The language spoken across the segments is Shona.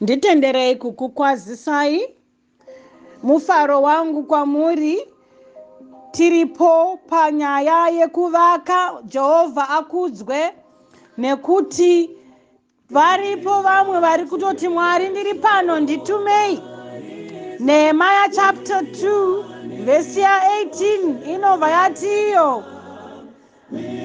Nditenderei kukukwazisai mufaro wangu kwamuri tiripo panyaya yekuvaka Jehovha akudzwe nekuti varipo vamwe vari kutoti Mwari ndiri pano nditumei Nehemiah chapter 2 verse 18 inobva yati iyo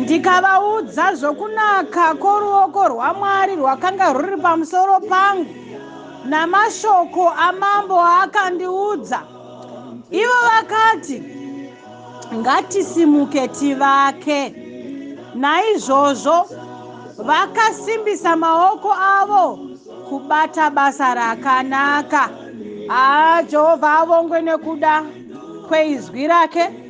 Ndikavaudza zvokunaka kworuoko rwaMwari rwakanga rwuri pamusoro pangu namashoko amambo aakandiudza. Ivo vakati, Ngatisimuke tivake. Naizvozvo vakasimbisa maoko avo kubata basa rakanaka. Haa, Jehovha avongwe nokuda kweizwi rake.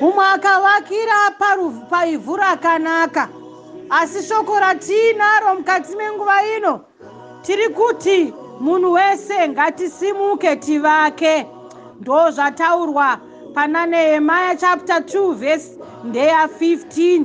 Mumwe akavakira paivhu rakanaka, asi shoko ratiinaro mukati menguva ino tiri kuti munhu wese ngatisimuke tivake. Ndo zvataurwa pana Nehemaya chapter 2 vhesi ndeya 15.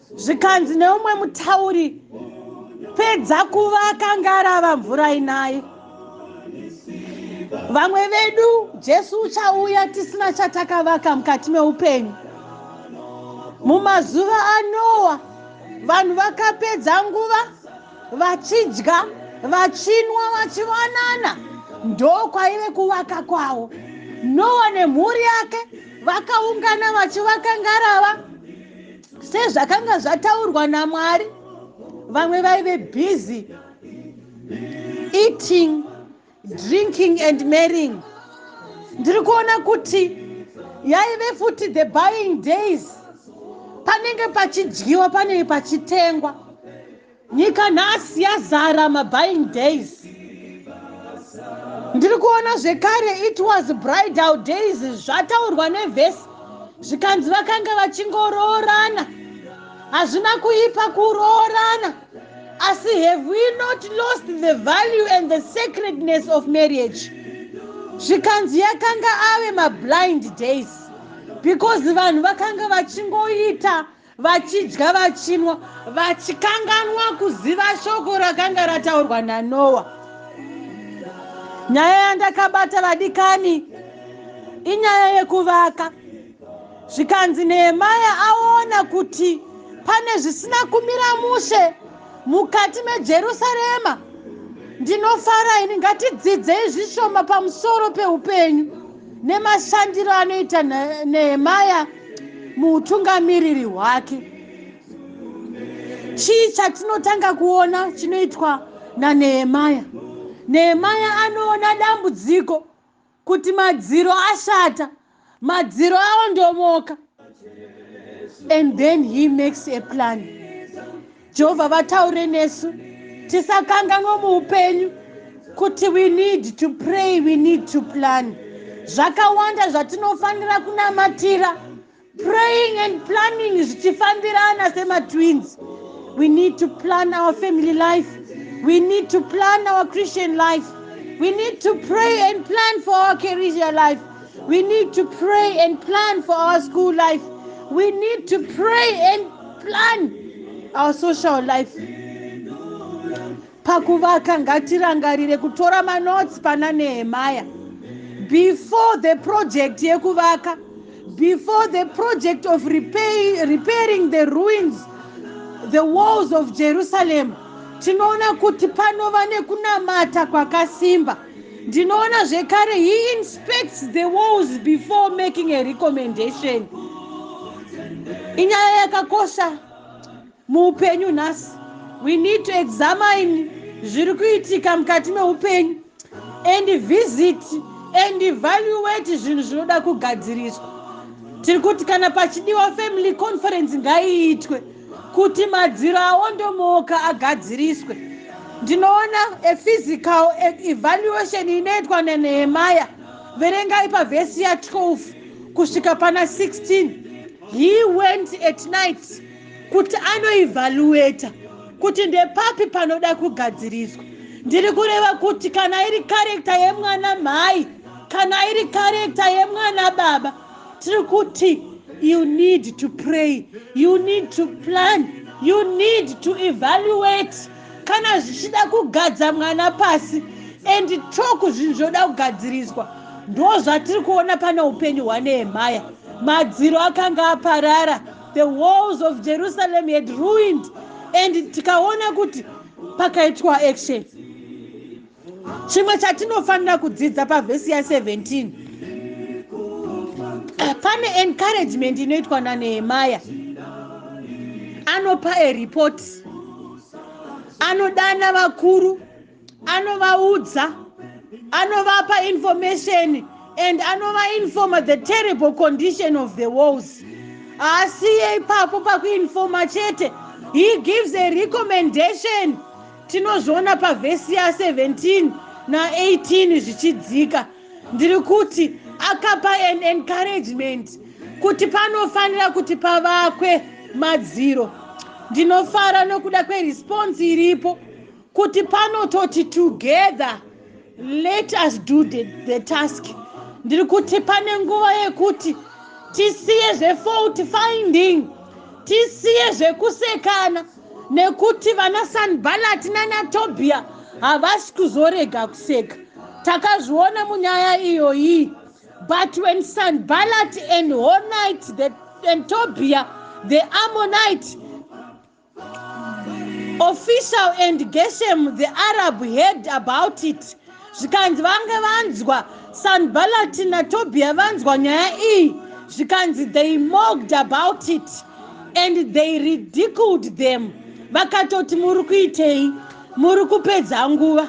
zvikanzi neumwe mutauri pedza kuvaka ngarava mvura inayi vamwe vedu jesu uchauya tisina chatakavaka mukati meupenyu mumazuva anowa vanhu vakapedza nguva vachidya vachinwa vachivanana ndokwaive kuvaka kwavo nowa nemhuri yake vakaungana vachivaka ngarava sezvakanga zvataurwa namwari vamwe vaive busy eating drinking and marrying ndiri kuona kuti yaive futi the buying days panenge pachidyiwa panenge pachitengwa Nyika nhasi yazara mabuying days. Ndiri kuona zvekare it was bridal days zvataurwa nevhesi zvikanzi vakanga vachingoroorana. Hazvina kuipa kuroorana. Asi have we not lost the value and the sacredness of marriage? Zvikanzi yakanga ave mablind days because vanhu vakanga vachingoita vachidya vachinwa vachikanganwa kuziva shoko rakanga rataurwa nanoa nyaya yandakabata vadikani inyaya yekuvaka zvikanzi nehemaya aona kuti pane zvisina kumira mushe mukati mejerusarema ndinofara ini ngatidzidzei zvishoma pamusoro peupenyu nemashandiro anoita nehemaya muutungamiriri hwake chii chatinotanga kuona chinoitwa nanehemaya nehemaya anoona dambudziko Kuti madziro ashata, madziro aondomoka. And then he makes a plan. Jehovha vataure nesu tisakanganwa muupenyu kuti we need to pray, we need to plan. Zvakawanda zvatinofanira kunamatira praying and planning zvichifambirana sematwins we need to plan our family life we need to plan our christian life we need to pray and plan for our career life we need to pray and plan for our school life we need to pray and plan our social life Pakuvaka ngatirangarire kutora manotes pana Nehemiah before the project yekuvaka before the project of repay, repairing the ruins the walls of Jerusalem tinoona kuti panova nekunamata kwakasimba ndinoona zvekare he inspects the walls before making a recommendation inyaya yakakosha Muupenyu nhasi we need to examine zviri kuitika mukati meupenyu and visit and evaluate zvinhu zvinoda kugadziriswa tiri kuti kana pachidiwa family conference ngaiitwe kuti madziro aondomoka agadziriswe ndinoona a physical evaluation inoitwa nanehemaya verengai pavhesi ya12 kusvika pana 16 he went at night kuti anoivhaluweta kuti ndepapi panoda kugadziriswa ndiri kureva kuti kana iri karekta yemwana mhai kana iri karekta yemwana baba tiri kuti you need to pray you need to plan you need to evaluate kana zvichida kugadza mwana pasi and talk zvinhu zvoda kugadziriswa ndo zvatiri kuona pane upenyu hwanehemaya madziro akanga aparara The walls of Jerusalem had ruined and tikaona kuti pakaitwa action chimwe chatinofanira kudzidza pavhesi ya 17 pane encouragement inoitwa nanehemaya anopa ereport anodana vakuru anovaudza anovapa information and anovainforma the terrible condition of the walls haasiye ipapo pakuinforma chete he gives a recommendation tinozviona pavhesi ya 17 na18 zvichidzika ndiri kuti akapa an encouragement kuti panofanira kuti pavakwe madziro ndinofara nokuda kweresponse iripo kuti panototi together let us do the, the task ndiri kuti pane nguva yekuti tisiye zvefault finding tisiye zvekusekana nekuti vana sanbalati nanatobia havasi kuzorega kuseka takazviona munyaya iyoyi but when sanbalati and honite the, and tobia the ammonite official and geshem the arab heard about it zvikanzi vange vanzwa sanbalat natobia vanzwa nyaya iyi zvikanzi they mogged about it and they ridiculed them vakatoti muri kuitei muri kupedza nguva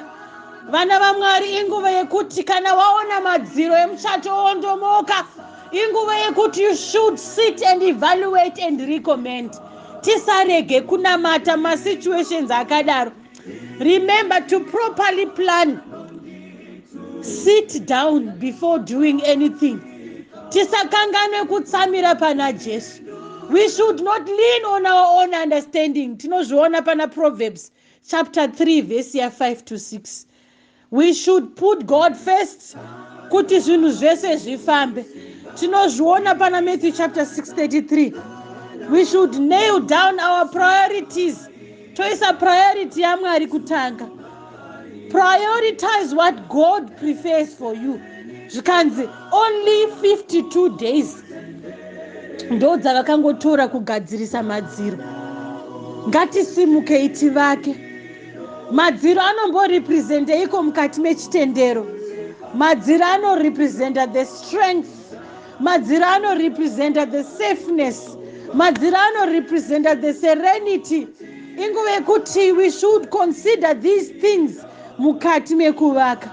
vana vamwari inguva yekuti kana waona madziro emuchato wondomoka inguva yekuti you should sit and evaluate and recommend tisarege kunamata masituations akadaro remember to properly plan sit down before doing anything tisakanganwe kutsamira pana jesu we should not lean on our own understanding tinozviona pana proverbs chapter 3 vhesi ya5 to 6 We should put God first kuti zvinhu zvese zvifambe. Tinozviona pana Matthew chapter 6:33. We should nail down our priorities. Toisa priority yaMwari kutanga. Prioritize what God prefers for you. Zvikanzi only 52 days ndo dzavakangotora kugadzirisa madziro ngatisimukei tivake Madziro anomborepresenteiko mukati mechitendero? Madziro anorepresenta the strength. Madziro anorepresenta the safeness. Madziro anorepresenta the serenity. Inguva yekuti we should consider these things mukati mekuvaka.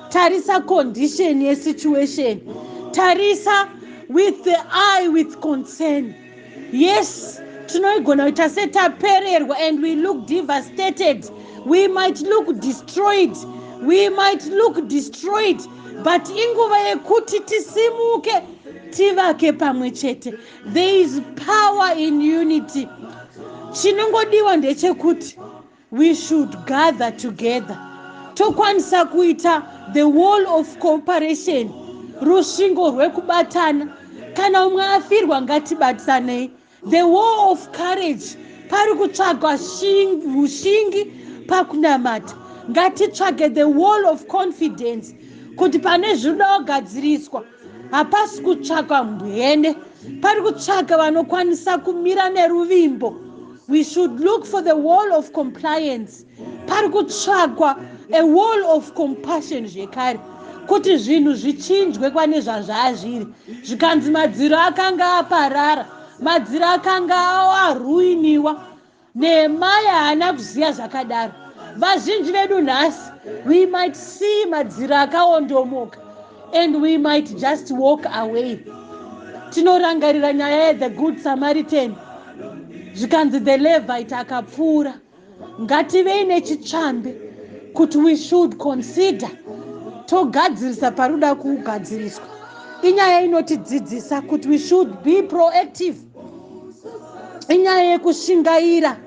Tarisa condition yesituation. Tarisa with the eye with concern. yes tinoigona kuita se tapererwa and we look devastated we might look destroyed we might look destroyed but inguva yekuti tisimuke tivake pamwe chete there is power in unity chinongodiwa ndechekuti We should gather together tokwanisa kuita the wall of cooperation rusvingo rwekubatana kana umwe afirwa ngatibatanei the wall of courage pari kutsvagwa ushingi pakunamata ngatitsvage the wall of confidence kuti pane zvinoda kugadziriswa hapasi kutsvakwa mbwene pari kutsvaka vanokwanisa kumira neruvimbo we should look for the wall of compliance pari kutsvakwa a wall of compassion zvekare kuti zvinhu zvichinjwe kwane zvazvaazviri zvikanzi madziro akanga aparara madziro akanga aruiniwa Nehemaya haana kuziva zvakadaro. Vazhinji vedu nhasi, we might see madziro akaondomoka and we might just walk away. Tinorangarira nyaya yeThe Good Samaritan zvikanzi the Levite akapfuura. Ngativei nechitsvambe kuti we should consider togadzirisa paruda kugadziriswa. Inyaya inotidzidzisa kuti we should be proactive. inyaya yekushingaira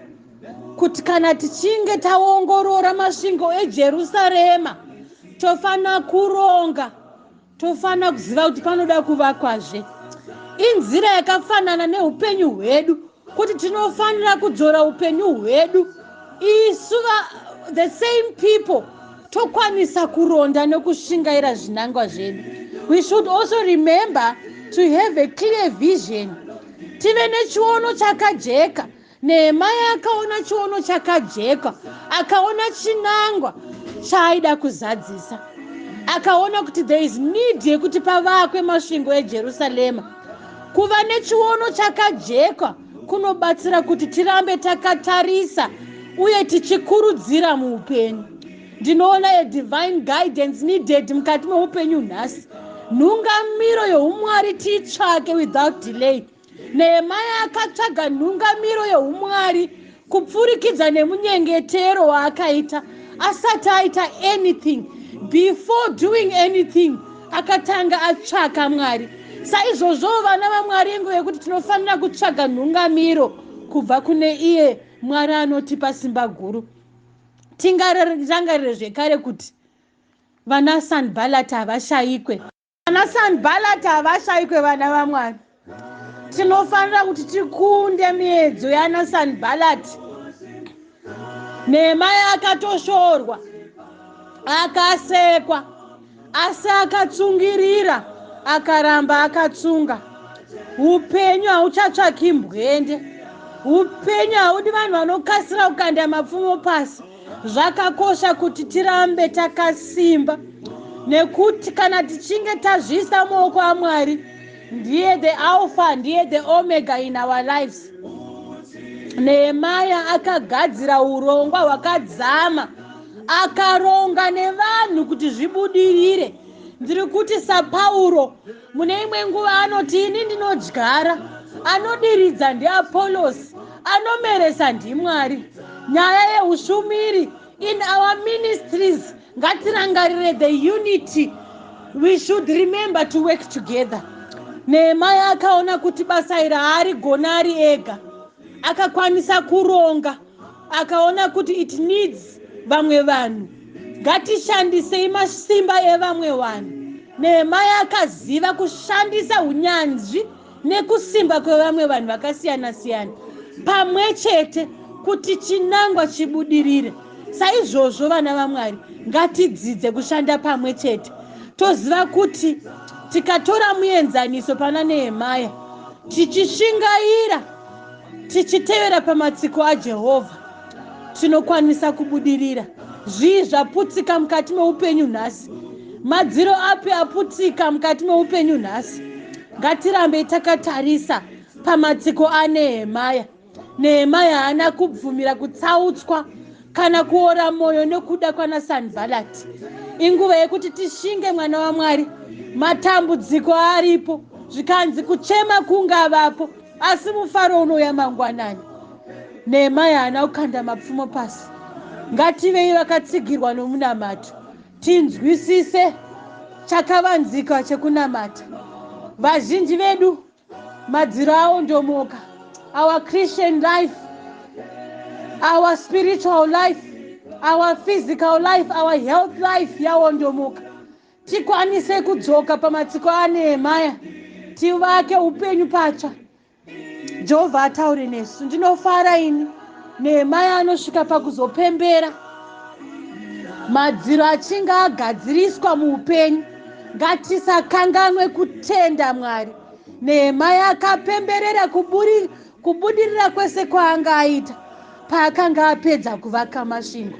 kuti kana tichinge taongorora masvingo ejerusarema tofanira kuronga tofanira kuziva kuti panoda kuvakwazve inzira yakafanana neupenyu hwedu kuti tinofanira kudzora upenyu hwedu isu the same people tokwanisa kuronda nokushingaira zvinangwa zvedu we should also remember to have a clear vision tive nechiono chakajeka nehemaya akaona chiono chakajeka akaona chinangwa chaaida kuzadzisa akaona kuti there is need yekuti pavakwe masvingo ejerusarema kuva nechiono chakajeka kunobatsira kuti tirambe takatarisa uye tichikurudzira muupenyu ndinoona yedivine guidance needed mukati meupenyu nhasi nhungamiro youmwari tiitsvake without delay nehemaya akatsvaga nhungamiro youmwari kupfurikidza nemunyengetero waakaita asati aita anything before doing anything akatanga atsvaka mwari saizvozvowo vana vamwari inguva yekuti tinofanira kutsvaga nhungamiro kubva kune iye mwari anotipa simba guru tingarangarire zvekare kuti vanasanbalati havashayikwe Ana Sanbalata havashaikwe vana vaMwari. Tinofanira kuti tikunde miedzo yana Sanbalati. Nehemaya akatoshorwa, akasekwa, asi akatsungirira, akaramba akatsunga. Upenyu hauchatsvaki mbwende. Upenyu haudi vanhu vanokasira kukanda mapfumo pasi. Zvakakosha kuti tirambe takasimba nekuti kana tichinge tazviisa muoko aMwari ndiye the alpha ndiye the omega in our lives. Nehemaya akagadzira urongwa hwakadzama akaronga nevanhu kuti zvibudirire. Ndiri kuti saPauro Mune imwe nguva anoti, Ini ndinodyara, anodiridza ndiApolosi, anomeresa ndiMwari. Nyaya yeushumiri in our ministries ngatirangarire the unity we should remember to work together nehemaya akaona kuti basa iri haarigona ari ega akakwanisa kuronga akaona kuti it needs vamwe vanhu ngatishandisei masimba evamwe vanhu nehemaya akaziva kushandisa unyanzvi nekusimba kwevamwe vanhu vakasiyana siyana pamwe chete kuti chinangwa chibudirire saizvozvo vana vamwari ngatidzidze kushanda pamwe chete toziva kuti tikatora muenzaniso pana nehemaya tichishingaira Tichitevera pamatsiko aJehovha, tinokwanisa kubudirira. Zvii zvaputsika mukati meupenyu nhasi? Madziro api aputsika mukati meupenyu nhasi? Ngatirambei takatarisa pamatsiko aNehemaya. Nehemaya haana kubvumira kutsautswa kana kuora mwoyo nokuda kwanaSanbhalati. Inguva yekuti tishinge mwana waMwari. Matambudziko aripo, zvikanzi kuchema kungavapo. Asi mufaro unouya mangwanani. Nehemaya haana kukanda mapfumo pasi. Ngativei vakatsigirwa nomunamato, tinzwisise chakavanzika chekunamata. Vazhinji vedu madziro awo ndomoka. Our Christian life, our spiritual life, our physical life, our health life yawondomoka. tikwanise kudzoka pamatsiko anehemaya tivake upenyu patsva jehovha ataure nesu ndinofara ini nehemaya anosvika pakuzopembera madziro achinge agadziriswa muupenyu ngatisakanganwe kutenda mwari nehemaya akapemberera kuburi kubudirira kwese kwaanga aita paakanga apedza kuvaka masvingo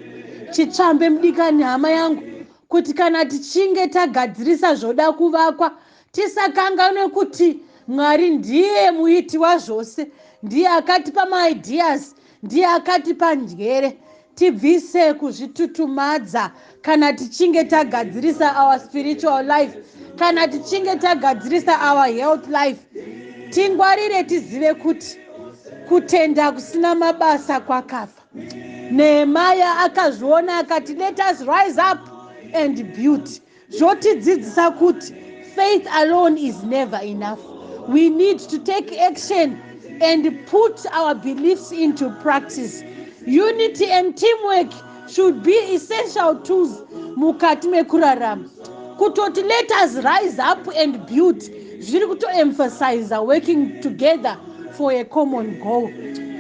chitsvambe mudikani hama yangu kuti kana tichinge tagadzirisa zvoda kuvakwa tisakanganwe kuti mwari ndiye muiti wazvose ndiye akatipa maideas ndiye akatipa njere tibvise kuzvitutumadza kana tichinge tagadzirisa our spiritual life kana tichinge tagadzirisa our health life tingwarire tizive kuti kutenda kusina mabasa kwakafa Nehemia akazviona akati, Let us rise up and build. Zvotidzidzisa kuti faith alone is never enough. We need to take action and put our beliefs into practice. Unity and teamwork should be essential tools mukati mekurarama. kutoti let us rise up and build zviri kutoemphasiza working together for a common goal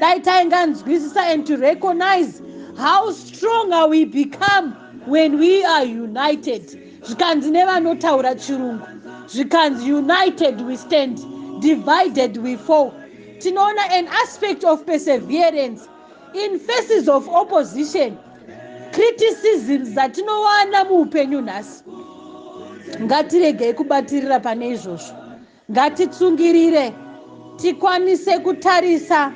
dai tainganzwisisa and to recognize how stronger we become when we are united zvikanzi nevanotaura chirungu zvikanzi united we stand divided we fall tinoona an aspect of perseverance In faces of opposition, criticism dzatinowana muupenyu nhasi, ngatiregei kubatirira pane izvozvo. Ngatitsungirire tikwanise kutarisa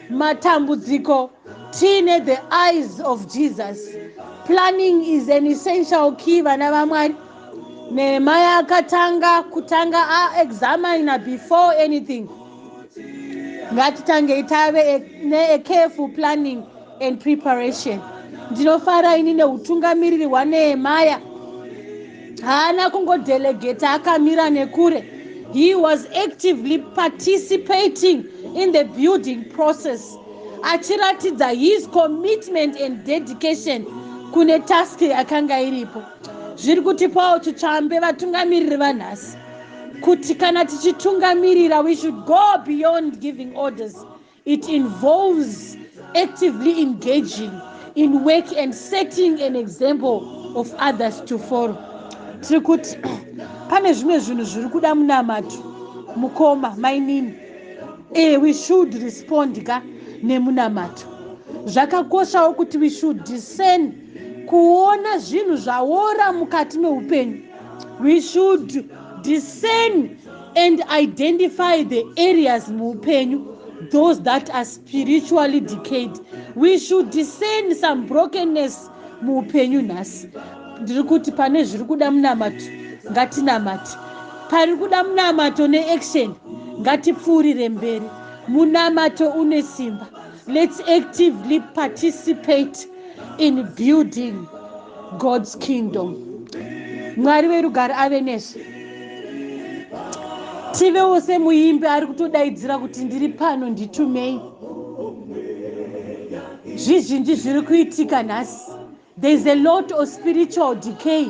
matambudziko tiine the eyes of Jesus. Planning is an essential key, vana vaMwari. Nehemaya akatanga kutanga aexamina before anything. ngatitangei tave necareful planning and preparation ndinofara ini neutungamiriri hwanehemaya haana kungodelegeta akamira nekure he was actively participating in the building process achiratidza his commitment and dedication kune task yakanga iripo zviri kutipawo chitsvambe vatungamiriri vanhasi kuti kana tichitungamirira we should go beyond giving orders it involves actively engaging in work and setting an example of others to follow tiri kuti pane zvimwe zvinhu zviri kuda munamato mukoma mainini e we should respond ka nemunamato zvakakoshawo kuti we should discern kuona zvinhu zvaora mukati meupenyu we should discern and identify the areas muupenyu those that are spiritually decayed we should discern some brokenness muupenyu nhasi ndiri kuti pane zviri kuda munamato ngatinamati pari kuda munamato neaction ngatipfuurire mberi munamato une simba Let's actively participate in building God's kingdom. Mwari verugare ave nesu. Tivewo semuimbi ari kutodaidzira kuti ndiri pano nditumei. Zvizhinji zviri kuitika nhasi There is a lot of spiritual decay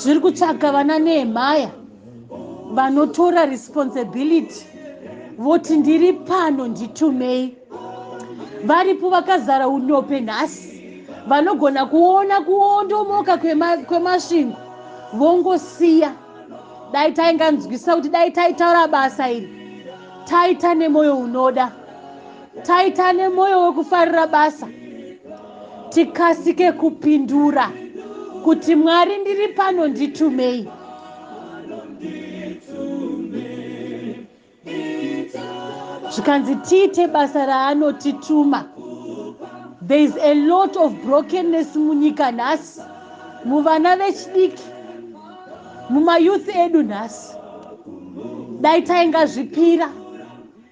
zviri kutsvaga vana nehemaya vanotora responsibility voti ndiri pano nditumei varipo vakazara unope nhasi vanogona kuona kuondomoka kwemasvingo vongosiya dai tainganzwisisa kuti dai taitaura basa iri taita nemwoyo unoda Taita nemoyo wekufarira basa tikasike kupindura kuti Mwari ndiri pano nditumei. Zvikanzi tiite basa raanotituma. There is a lot of brokenness munyika nhasi, muvana vechidiki, mumayouth edu nhasi. Dai taingazvipira.